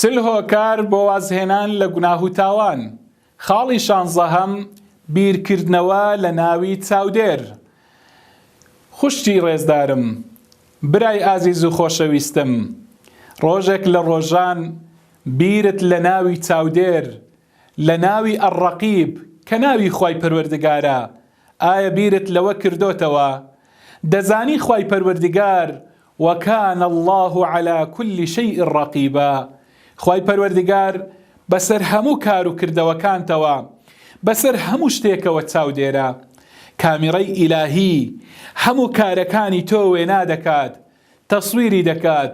چل هۆکار بۆ وازهێنان لە گوناه و تاوان خاڵی شانزەهەم بیرکردنەوە لە ناوی چاودێر خوشکی ڕێزدارم برای ئازیز و خۆشەویستم ڕۆژێک لە ڕۆژان بیرت لە ناوی چاودێر، لە ناوی الرقیب کە ناوی خوای پەروەردگارە، ئایا بیرت لەوە کردۆتەوە؟ دەزانی خوای پەروەردگار، وکان اللە علی کل شیء رقیبا، خوای پەروەردگار بەسەر هەموو کار و کردەوەکانتەوە، بەسەر هەموو شتێکەوە چاودێرە. کامیڕەی ئیلاهی هەموو کارەکانی تۆ وێنا دەکات، تەسویری دەکات،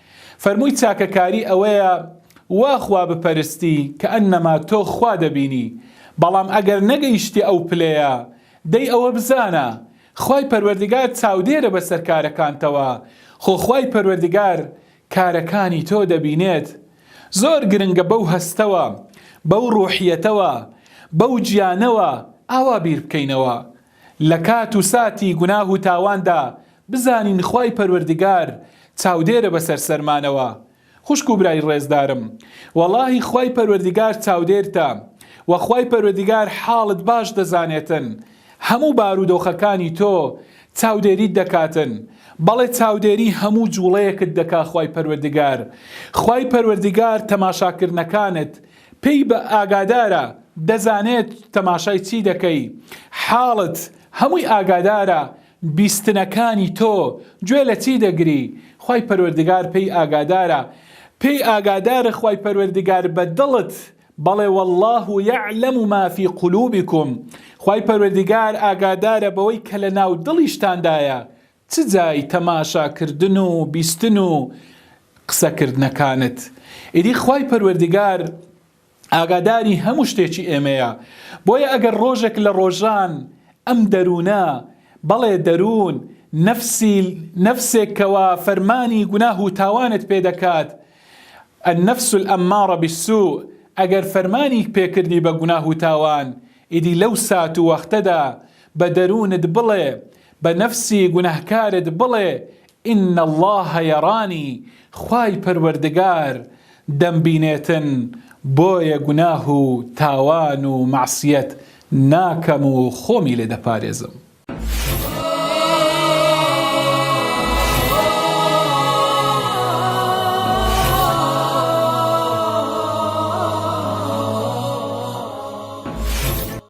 فەرمووی چاکەکاری ئەوەیە وا خوا بپەرستی کەئەنەما تۆ خوا دەبینی، بەڵام ئەگەر نەگەیشتیە ئەو پلەیە، دەی ئەوە بزانە، خوای پەروەردگار چاودێرە بەسەر کارەکانتەوە، خۆ خوای پەروەردگار کارەکانی تۆ دەبینێت. زۆر گرنگە بەو هەستەوە، بەو ڕوحیەتەوە، بەو گیانەوە ئاوا بیر بکەینەوە، لە کات و ساتی گوناه و تاواندا بزانین خوای پەروەردگار چاودێرە بەسەر سەرمانەوە خوشک و برای ڕێزدارم وەڵاهی خوای پەروەردگار چاودێرتە وە خوای پەروەردگار حاڵت باش دەزانێتن هەموو بارودۆخەکانی تۆ چاودێریت دەکاتن بەڵێ چاودێری هەموو جوڵەیەکت دەکا خوای پەروەردگار خوای پەروەردگار تەماشاکردنەکانت پێی بە ئاگادارە دەزانێت تەماشای چی دەکەی حاڵت هەمووی ئاگادارە بیستنەکانی تۆ گوێ لە چی دەگری خوای پەروەردگار پێی ئاگادارە پێی ئاگادارە خوای پەروەردگار بە دڵت بەڵێ واللە یعلم ما فی قلوبکم خوای پەروەردگار ئاگادارە بەوەی کە لە ناو دڵیشتاندایە چ جای تەماشا کردن و بیستن و قسە کردنەکانت ئیدی خوای پەروەردگار ئاگاداری هەموو شتێکی ئێمەیە بۆیە ئەگەر ڕۆژێک لە ڕۆژان ئەم دەروونە بەڵێ دەروون نەفسی نەفسێک کەوا فەرمانی گوناه و تاوانت پێ دەکات النفس الامارە بالسوء ئەگەر فەرمانی پێکردی بە گوناه و تاوان ئیدی لەو سات و وەختەدا بە دەروونت بڵێ، بە نەفسی گوناهکارت بڵێ، ان اللە یرانی، خوای پەروەردگار دەمبینێتن، بۆیە گوناه و تاوان و مەعسیەت ناکەم و خۆمی لێ دەپارێزم.